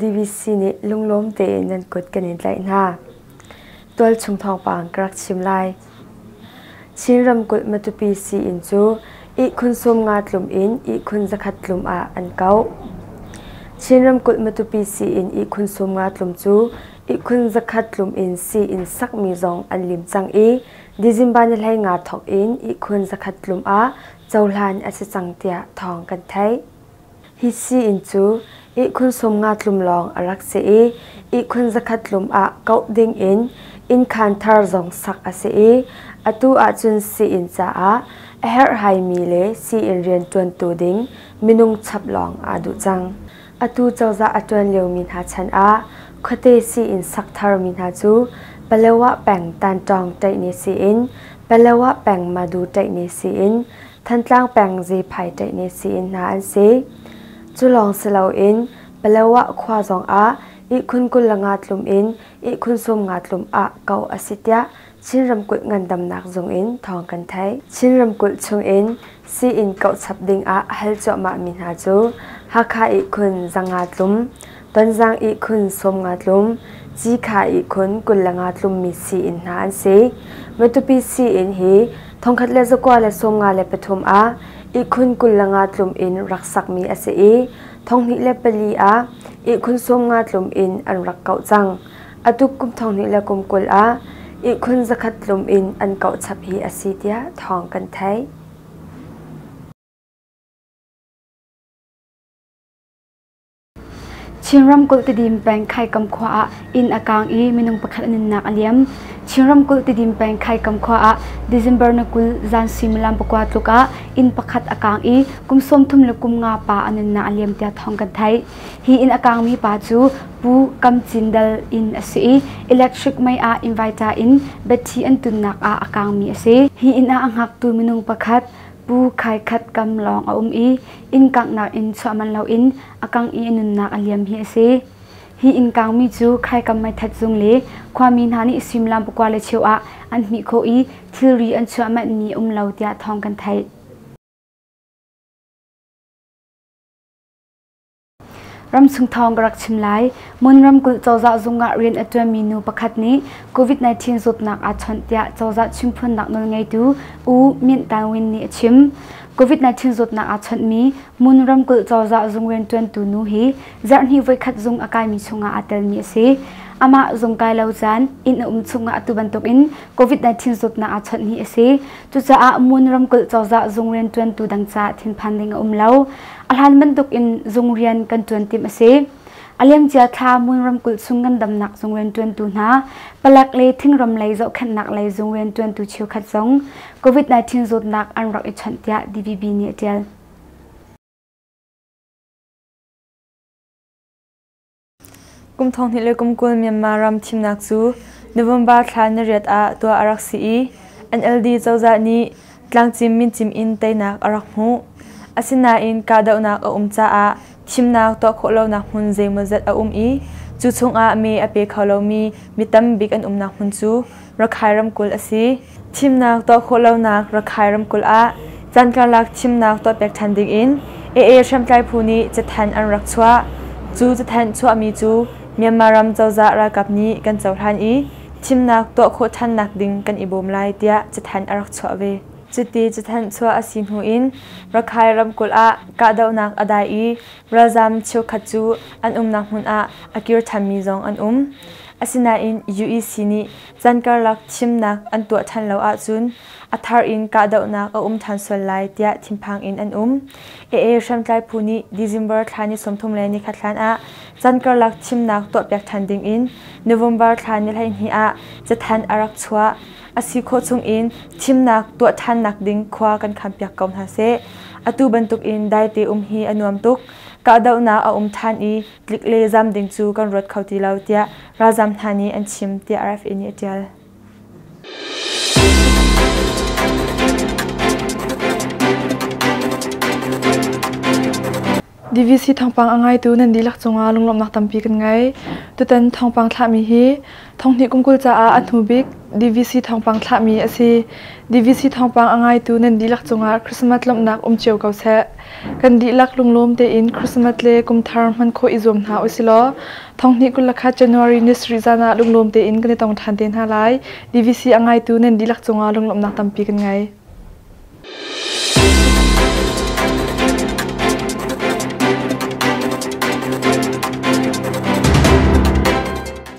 DVC nih lunglawm tein nan kut kan in tlaih hna. Tualchung thawngpang ka rak chim lai. Chin ramkulh Matupi sii-inn cu ihkhun sum nga tlum in ihkhun zakhat tlum ah an kauh. Chin ramkulh Matupi sii-inn ihkhun sum nga tlum cu ihkhun zakhat tlum in sii in sakmi zong an lim cang i December ni hlei nga thawk in ihkhun zakhat tlum ah cohlan a si cang tiah thawng kan theih. Hi sii inn cu ihkhun sum nga tlum lawng a rak si i ihkhun zakhat tlum ah kauh ding in innkhan thar zong sak a si i atu ahcun sii inn caah a herhhaimi le sii inn rian ṭuantu ding minung chap lawng aa duh cang. Atu cozah a ṭuan liomi hna chan ah khuate sii in sak tharmi hna cu Paletwah peng Tanṭawng ṭaihne sii in, Paletwah peng Madu ṭaihne sii in, Thantlang peng Zephai ṭaihne sii in hna an si. Cu lawng si loin Paletwah khua zongah ihkhun kul le nga tlum in ihkhun sawm nga tlum ah kauh a si tiah Chin ramkulh ngandamnak zung in thawng kan theih. Chin ramkulh chungin sii-inn kauh chap dingah a hal cuahmahmi hna cu Hakha ihkhun Zanga tlum, Tonzang ihkhun Sawmnga tlum, Cikha ihkhun Kullanga tlummi sii-inn hna an si. Matupi sii-inn hi thongkhat le zakua le sawmnga le pathum ah ihkhun Kullanga tlum in rak sakmi a si i thonghnih le pali ah ihkhun Sawmnga tlum in an rak kauh cang. A tuk kum thong hnih le kum kul ah ihkhun zakhat tlum in an kauh chap hi a si tiah thawng kan theih. Chin ramkulh Tidim peng Khaikam khua ah inn a kaang i minung pakhat a nunnak a liam. Chin ramkulh Tidim peng Khaikam khua ah December na kul zan suimilam pakua tluk ah inn pakhat a kaang i kum sawm thum le kum nga pa a nunnak a liam tiah thawng kan theih. Hi inn a kaangmi pa cu Pu Kam Cin Dal in a si i electric mei ah invita in batthi an tunnak ah a kaangmi a si. Hi inn ah a hngaktu minung pakhat Pu Khai Khat Kam lawng a um i inn kanghnak in chuah manh loin a kangh i a nunnak a liam hi a si. Hi inn kaangmi cu Khaikam meithat zung le khuami hna nih suimlam pakua le cheu ah an hmih khawh i thilri an chuah manhmi um lo tiah thawng kan theih. Ramchung thawng ka rak chim lai. Mun ramkulh cozah zung ah rian a ṭuanmi nu pakhat nih COVID-19 zawtnak aa chawnh tiah cozah chimphunnak nawlngeitu U Myint Tangwin nih a chim. COVID-19 zawtnak aa chawnhmi Mun ramkulh cozah zung rianṭuantu nu hi zarhhnih voikhat zung a kaimi chungah aa telmi a si. Amah zung kai lo caan inn a um chungah atu bantukin COVID-19 zawtnak aa chawnh hi a si. Cucaah Mun ramkulh cozah zung rianṭuantu dang caah thinphan ding a um lo. A hlan bantuk in zung rian kan ṭuan timh a si. A liamcia thla Mun ramkulh chung ngandamnak zung rian ṭuantu hna, palek le thingram lei zohkhenhnak lei zung rian ṭuantu cheukhat zong COVID-19 zawtnak an rak i chawnh tiah DVB nih a ṭial. Kum thonghnih le kum kul Myanmar ram thimnak cu November thla nariat ah tuah a rak si i NLD cozah nih tlangcim mincim in teinak a rak hmuh. Asinain kahdohnak a um caah thimnak tuah khawh lonak hmun zeimawzat a um i cu chungah mee a pe kho lomi mi tam bik an umnak hmun cu Rakhai ramkulh a si. Thimnak tuah khawh lonak Rakhai ramkulh ah caan karlak thimnak tuah pek than dingin AA hriamtlai phu nih cathanh an rak chuah. Cu cathanh chuahmi cu Myanmar ram cozah ralkap nih kan cohlan i thimnak tuah khawh thannak ding kan i bawm lai tiah cathanh a rak chuah ve. Cuti cathanh chuah a si hnu in Rakhai ramkulh ah kahdohnak a dai i ralzam cheukhat cu an umnak hmun ah a kir thanmi zong an um. Asinain UEC nih can karlak thimnak an tuah ṭhan lo ahcun a thar in kahdohnak a um ṭhan sual lai tiah thinphang in an um. AA hriamtlai phu nih December thla ni sawmthum le ni khat hlan ah can karlak thimnak tuahpiak ṭhan ding in November thla ni hleihnih ah cathanh a rak chuah. A si khawh chung in thimnak tuah ṭhannak ding khua kan khampiak ko hna seh. Atu bantuk in daite um hi a nuam tuk. Kahdohnak a um ṭhan i tlik le zam ding cu kan ruat kho ti lo tiah ralzam hna nih an chim tiah RFA nih a ṭial. DVC thawngpang a ngaitu nan dihlak cungah lunglawmhnak tampi kan ngei. Tutan thawngpang thlahmi hi Thonghnih kum kul caah a hnubik DVC thawngpang thlahmi a si. DVC thawngpang a ngaitu nan dihlak cungah Christmas lawmhnak um cio ko seh. Kan dihlak lunglawm tein Christmas le kumthar hman khawh i zuam hna usilaw thonghnih kul le khat January ni sarih zan ah lunglawm tein kan i tong ṭhan te hna lai. DVC a ngaitu nan dihlak cungah lunglawmhnak tampi kan ngei.